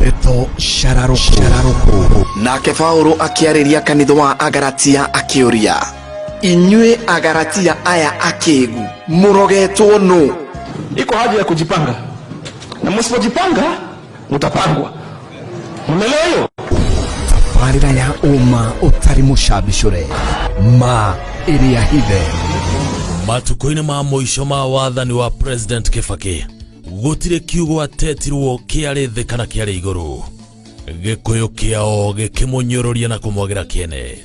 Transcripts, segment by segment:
Eto Shararoko. Shararoko. Nake Paulo akĩarĩria kanitha wa Agaratia akĩũria, inyuĩ Agaratia aya akĩgu, mũrogetwo nũ? Iko haja ya kujipanga, na msipojipanga mutapangwa mumelewa hiyo barira ya uma utari mushabishure ma iria hithe matukũ-inĩ ma mũico ma wathani wa president kĩbakĩ gũtirĩ kiugo atetirwo kĩarĩ thĩ kana kĩarĩ igũrũ gĩkũyũ kĩao gĩkĩmũnyũrũria na kũmwagĩra kĩene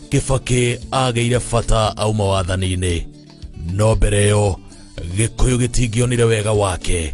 kĩbakĩ agĩire bata auma wathani-inĩ no mbere ĩyo gĩkũyũ gĩtingĩonire wega wake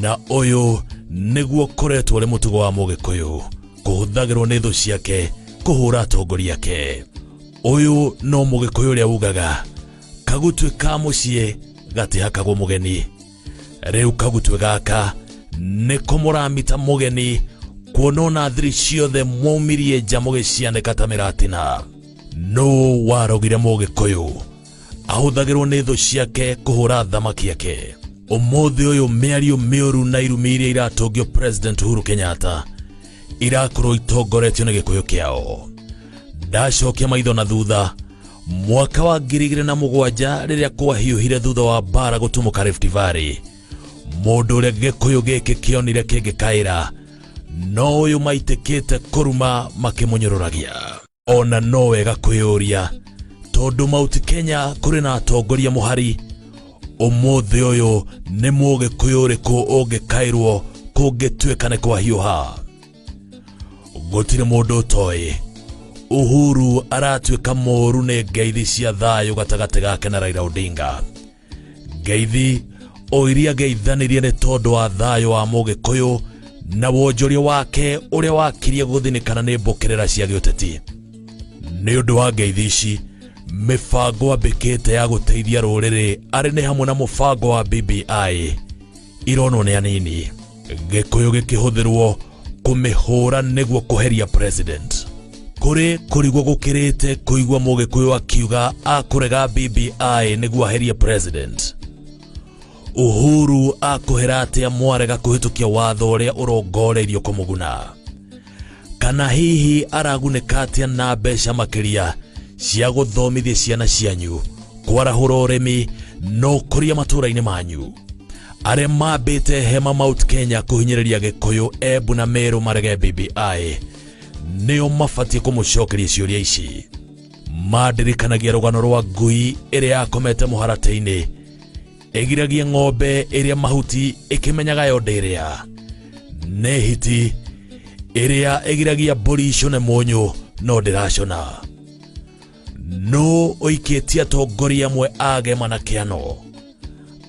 na ũyũ nĩguo koretwo ũrĩ mũtugo wa mũgĩkũyũ kũhũthagĩrwo nĩ thũ ciake kũhũra atongoria ake ũyũ no mũgĩkũyũ ũrĩa ugaga kagutwe ka mũciĩ gatihakagwo mũgeni rĩu kagutwe gaka nĩko mũramita mũgeni kuona ona thiri ciothe mwaumirie nja mũgĩcianĩka ta mĩratina nũ warogire mũgĩkũyũ ahũthagĩrwo nĩ thũ ciake kũhũra thamaki ake ũmũthĩ ũyũ mĩario mĩũru na irumi iria iratũngio president uhuru kenyatta irakorwo itongoretio nĩ gĩkũyũ kĩao ndacokia maitho na thutha mwaka wa ngiri igĩrĩ na mũgwanja rĩrĩa kwahiũhire thutha wa mbara gũtumũka rift valley mũndũ ũrĩa gĩkũyũ gĩkĩ kĩonire kĩngĩkaĩra no ũyũ maitĩkĩte kũruma makĩmũnyũrũragia ona no wega kwĩyũria tondũ mauti kenya kũrĩ na atongoria mũhari ũmũthĩ ũyũ nĩ mũgĩkũyũ ũrĩkũ ũngĩkaĩrwo kũngĩtuĩka nĩ kwa hiũha gũtirĩ mũndũ ũtoĩ uhuru aratuĩka mũũru nĩ ngeithi cia thayũ gatagatĩ gake na raira odinga ngeithi o iria ngeithanirie nĩ tondũ wa thayũ wa mũgĩkũyũ na wonjoria wake ũrĩa wakirie gũthinĩkana nĩ mbũkĩrĩra cia gĩũteti nĩ ũndũ wa ngeithi ici mĩbango ambĩkĩte ya gũteithia rũrĩrĩ arĩ nĩ hamwe na mũbango wa bbi ironwo nĩ anini gĩkũyũ gĩkĩhũthĩrwo kũmĩhũra nĩguo kũheria president kũrĩ kũrigwo gũkĩrĩte kũigua mũgĩkũyũ akiuga akũrega bbi nĩguo aherie president uhuru akũhera atĩa mwarega kũhĩtũkia watho ũrĩa ũrongoreirio kũmũguna kana hihi aragunĩka atĩa na mbeca makĩria cia gũthomithia ciana cianyu kwarahũra ũrĩmi na ũkũria matũũra-inĩ manyu arĩa mambĩte hema mount kenya kũhinyĩrĩria gĩkũyũ embu na merũ marege bbi nĩo mabatiĩ kũmũcokeria ciũria ici mandirikanagia rũgano rwa ngui ĩrĩa yakomete mũharatĩ-inĩ ĩgiragia ng'ombe ĩrĩa mahuti ĩkĩmenyaga yo ndĩrĩa nĩ hiti ĩrĩa ĩgiragia mbũri icone mũnyũ no ndĩracona nũ ũikĩtie atongoria amwe agema na kĩano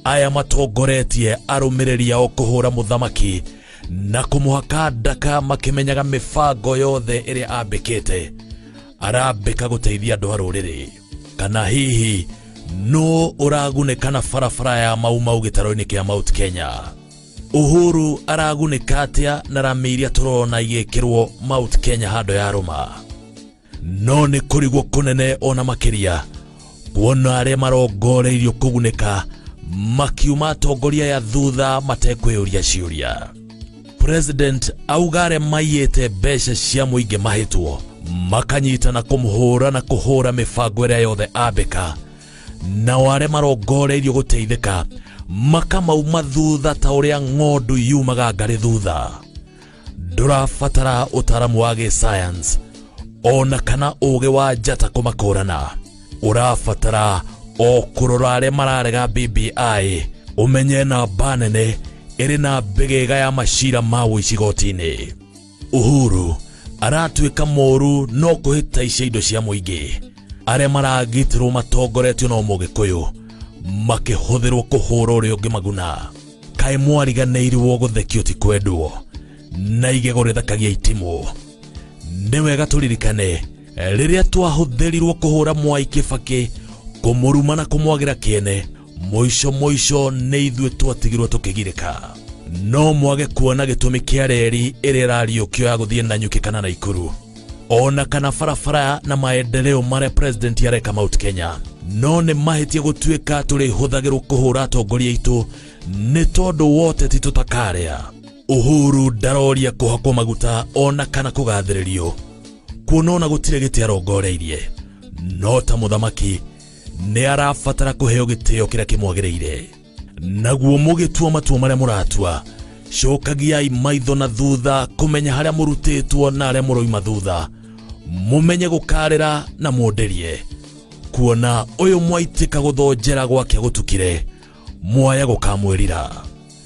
aya matongoretie arũmĩrĩri ao kũhũra mũthamaki na kũmũhaka ndaka makĩmenyaga mĩbango yothe ĩrĩa ambĩkĩte arambĩka gũteithia andũ a rũrĩrĩ kana hihi nũ ũragunĩka na barabara ya maumau gĩtarũ-inĩ kĩa mount kenya uhuru aragunĩka atĩa na rami iria tũrona igĩkĩrwo mount kenya handũ ya rũma no nĩ kũrigwo kũnene ona makĩria kuona arĩa marongoreirio kũgunĩka makiuma atongoria ya thutha matekwĩyũria ciũria president auga arĩa maiyĩte mbeca cia mũingĩ mahĩtwo makanyitana kũmũhũra na kũhũra mĩbango ĩrĩa yothe ambĩka nao arĩa marongoreirio gũteithĩka makamauma thutha ta ũrĩa ng'ondu yumaga ngarĩ thutha ndũrabatara ũtaramu wa gĩsayansi ona kana ũũgĩ wa njata kũmakũrana ũrabatara o kũrora arĩa mararega BBI ũmenye namba nene ĩrĩ na mbĩgĩga ya macira ma ũici goti-inĩ Uhuru aratuĩka mũũru no kũhĩtaicia indo cia mũingĩ arĩa maragitĩrwo matongoretio na mũgĩkũyũ makĩhũthĩrwo kũhũra ũrĩa ũngĩ maguna kaĩ mwariganĩirwo gũthekio ti kwendwo na igego rĩthakagia itimũ nĩ wega tũririkane rĩrĩa twahũthĩrirwo kũhũra mwai kĩbakĩ kũmũruma na kũmwagĩra kĩene mũico mũico nĩ ithuĩ twatigirwo tũkĩgirĩka no mwage kuona gĩtũmi kĩa reri ĩrĩa ĩrariũkio ya gũthiĩ na nyuki kana na ikuru ona kana barabara na maendeleo marĩa president areka mount kenya no nĩ mahĩtia gũtuĩka tũrĩhũthagĩrwo kũhũra atongoria aitũ nĩ tondũ wote ti tũtakarĩa uhuru ndaroria kũhakwo maguta ona kana kũgathĩrĩrio kuona ona gũtirĩ gĩtĩ arongoreirie no ta mũthamaki nĩ arabatara kũheo gĩtĩo kĩrĩa kĩmwagĩrĩire naguo mũgĩtua matua marĩa mũratua cokagiai maitho na thutha kũmenya harĩa mũrutĩtwo na arĩa mũroima thutha mũmenye gũkarĩra na mũndĩrie kuona ũyũ mwaitĩka gũthonjera gwake gũtukire mwaya gũkamwĩrira